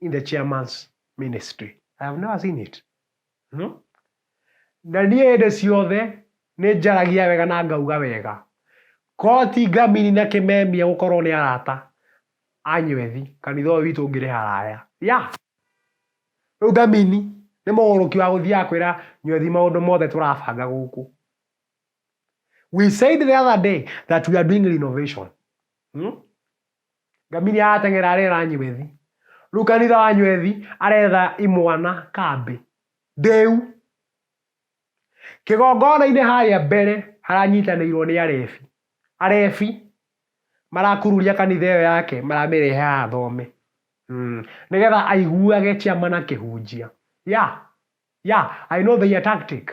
in the chairman's ministry. I have never seen it. No? Na niĩ hĩndĩ ciothe nĩ njaragia wega na ngauga wega. Koti ngamini na kĩmemia gũkorwo nĩ arata anywethi kanitha ũyũ witũ ngĩrĩ haraya. Ya! Rĩu ngamini nĩ mũgũrũki wa gũthiaga kwĩra nywethi maũndũ mothe tũrabanga gũkũ. We said the other day that we are doing renovation. Hmm? Ngamiria yateng'era arera nywethi. Rĩu kanitha wa nywethi aretha imwana kambĩ. Ndĩu. Kĩgongona-inĩ harĩa mbere haranyitanĩirwo nĩ arebi. Arebi marakururia kanitha ĩyo yake maramĩrehe haha thome. Mm. Nĩgetha aiguage ciama na kĩhunjia. Yeah. Yeah. I know their tactic.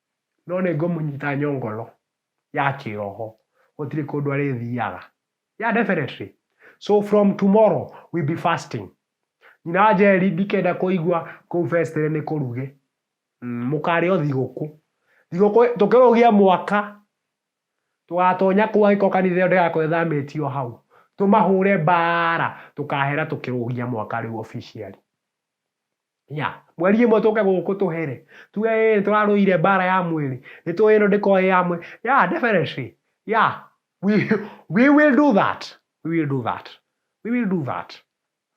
no nĩ ngũmũnyita nyongolo ya kĩroho, gũtirĩ kũndũ arĩthiaga. Yeah definitely. So from tomorrow we'll be fasting. Nyina wa Njeri ndikenda kũigua kũu festere nĩ kũruge. Mm, mũkarĩo thigũkũ. Thigũkũ tũkĩrũgia mwaka tũgatonya kũu angĩkorwo kanitha ĩyo ndĩgakorwo ĩthamĩtio hau. Tũmahũre mbaara tũkahera tũkĩrũgia mwaka rĩu officially. ya mweri ĩmwe tũke gũkũ tũhere tuge ĩ tũrarũire mbara ya mwĩrĩ nĩ tũĩ ĩno ndĩkorwo ĩ ya mwĩrĩ ya definitely ya we, we will do that we will do that we will do that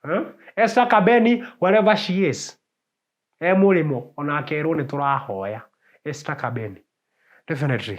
huh? Esther Kabeni wherever she is e mũrĩmo ona akerwo nĩ tũrahoya Esther Kabeni definitely